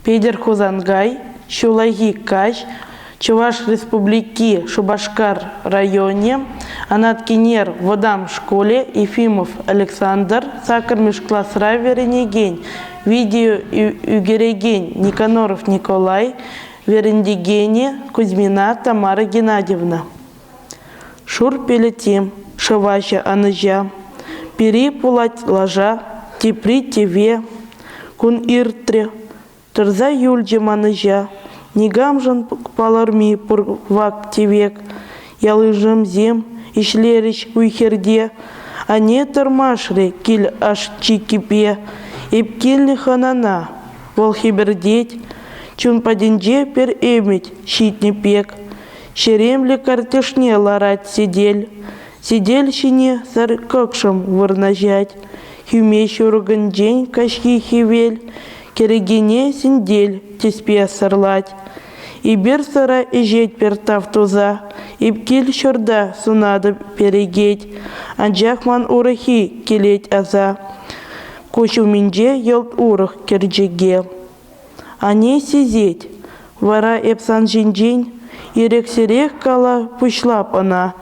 Петӗр Хусанкай ҫуллахи каҫ Чӑваш Республики Шупашкар районӗ Анат Кинер вӑтам шкулӗ Ефимов Александр саккӑрмӗш класра вӗренекен, видео ӳкерекен Никоноров Николай, вӗрентекенӗ Кузьмина Тамара Геннадьевна. Шур пелӗти, шӑваҫӑ ӑнӑҫа, пири пулать лаша, тепри тӗве. Кун иртрӗ, тӑрса юлчӗ манӑҫа, никамшӑн палӑрми пур вак-тӗвек. Ялйышӑмсем ӗҫлерӗҫ уй-хирте, анне тӑрмашрӗ кил аш-чиккипе. Эп килнӗ хӑнана, вӑл хӗпӗртет, чун патӗнче пӗр ӗмӗт ҫитнӗ пек. Ҫеремлӗ картишне ларать сӗтел. Сӗтел ҫине сӗр кӑкшӑм вырнаҫать. Хӳме ҫуркӑнчен каҫхи хӗвел кӗрекене сӗнтел тӗспе сӑрлать. Эпир сӑра ӗҫет пӗр тав туса, эп кил ҫурта сунатӑп перекет. Анчах ман урӑххи килет аса, куҫ умӗнче йӑлт урӑх кӗрчӗке. Ане сисет, вара эп сан ҫинчен ирӗксӗрех кала пуҫлап ӑна.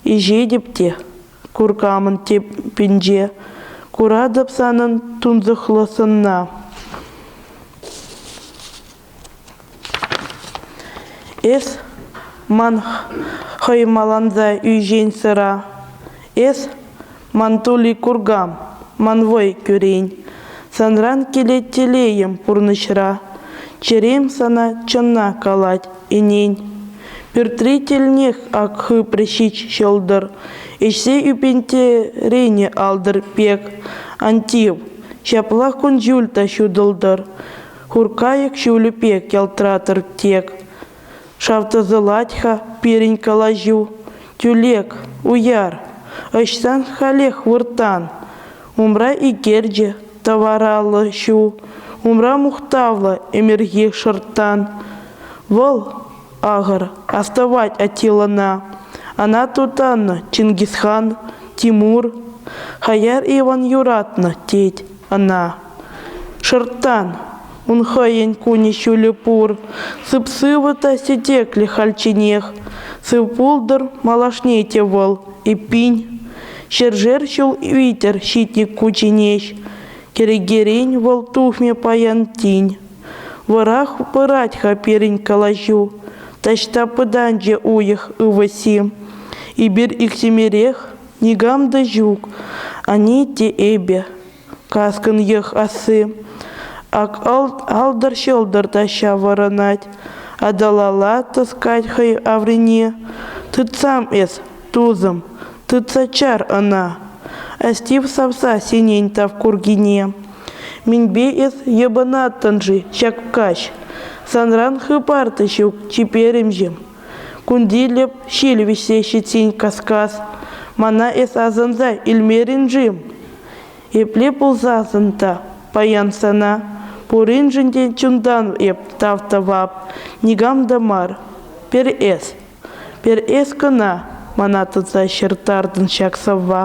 Ӗҫетӗп те куркамӑн теппинче. Куратӑп санӑн тунсӑхлӑ сӑнна. Эс ман хӑй маланса ӳсен сӑра. Эс Ман тули куркам, ман вӑй кӳрен. Санран килет телейӗм пурнӑҫра. Чӗрем сана чӑнна калать, ӗнен. Пӳртри тӗлнех ак хыпрӗ ҫич ҫӑлтӑр. Ӗҫсе ӳпентерене алдӑр пек. Ан тив, ҫапла кун-ҫуль та ҫутӑлтӑр. Хуркайӑк ҫулӗ пек ялтӑратӑр тек. Шав тӑсӑлать-ха пирӗн калаҫу. Тӳлек, уяр, ӑҫсан халех выртан? Умра икерчӗ тӑвараллӑ ҫу, умра мухтавлӑ ӗмӗрхи шӑрттан. Вӑл, ахӑр, астӑвать Атилӑна. Ана тутаннӑ Чингисхан, Тимур. Хаяр Иван юратнӑ тет ӑна. Шӑрттан, Ун хӑйӗн кунӗ ҫулӗ пур. Сып-сывӑ та сӗтеклӗ хальчченех. Сывпултӑр малашне те вӑл. Эппин, ҫӗршер ҫул витӗр ҫитнӗ ку ченеҫ. Кӗрекерен вӑл тухмӗ паян тин. Вӑрах пырать-ха пирӗн калаҫу. Таҫта пытанчӗ уйӑх ывӑсси. Эпир иксӗмӗрех никам та ҫук, ани те эпӗ. Каскӑнех асси ак алтӑр-ҫӑлтӑр та ҫаврӑнать. Аталала тӑскать хӑй аврине. Тытсам эс, тусӑм, тытса чар ӑна. Астив савса синен тав куркине. Минпе эс йӑпӑнаттӑн-ши ҫак каҫ? Санран хыпар та ҫук чиперӗмҫӗ. Кунтилӗп ҫил вӗҫсе ҫитсен кас-кас, мана эс асӑнса илмерӗн-ши? Епле пулсассӑн та паян сана пуриншӗн те чунтан эп тав тӑвап, никам та мар. Пер эс, пер эс кӑна, мана тытса ҫыртартӑн ҫак сӑвва.